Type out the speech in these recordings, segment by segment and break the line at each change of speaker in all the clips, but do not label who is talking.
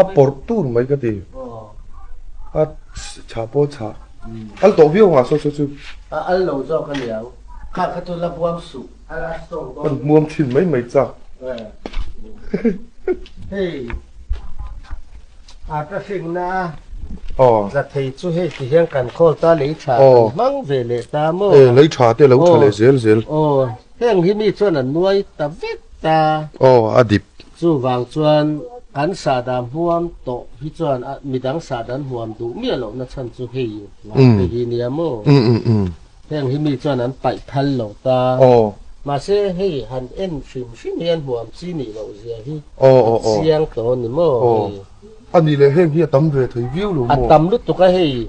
A porhtu mei ka ti. A tha paw tha. Al tawh viau nga so cu cu. A al lo zawk
a niang. Kha kha tu la buam suh. Al a song tawn. Kan
muam chin mai mai cak.
Hei. A ka hring na. Za thei cu hei ti hian kan call ta lei tha kan hmang ve le ta mo. Eh lei tha te lo tha
le zel zel. Oh. Heng hi
ni chuan an nuai ta vek ta. Oh a dip.
Cuvang
cun kan sahdam huam tawh hi cun midang sadan huam duh miah lo na chan cu hei hihi nia maw. Heng hi mi cun an paih thal lo ta. Mahse hei han en hrimhrim hi an huam chi nih loh zia hi a chiang tawn ni maw. Anih he
hi a tam ve thai viu lo maw? A tam lutuk a hei.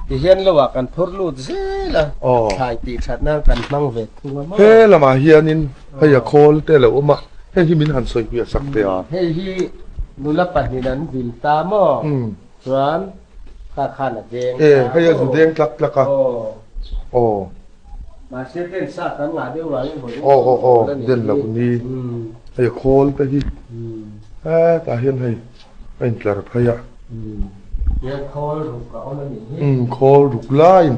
Tihian lo ah kan phur lut zel a. Oh. Thlai ti thatnak kan hmang ve thung a maw. He lamah hian in
hei a khawl te lo uma. He hi min han soi hui a sak te a. Hei hi
nula pahnih an vil ta maw. Hmm. Chuan kha khan a deng.
Eh, hei a zu deng tlak tlak a. Oh. Oh.
Aw, den lo ni.
Hei khawl te hi. Eh, ta hian hei. Hei tlar phai a.
Mm, khawl ruk lain.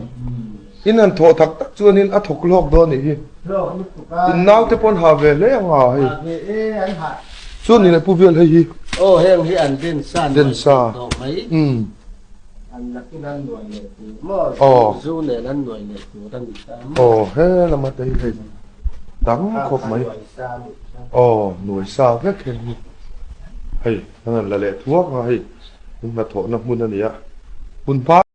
In an thawh thak
tak chuan in a thok lok do ni hi. In nau te pon ha ve le anga hei. Chun in pu vial hei hi. Oh,
heng hi an den san. Den sa. Mm. Zu nih nan nuai le tu kan i tam. Aw he lama tei hei.
Dang khop mai. Aw nuai sa vek hen hi. Hei, nan la le thuak nga hei. Hna thawh na hmun ani a. Hmun pa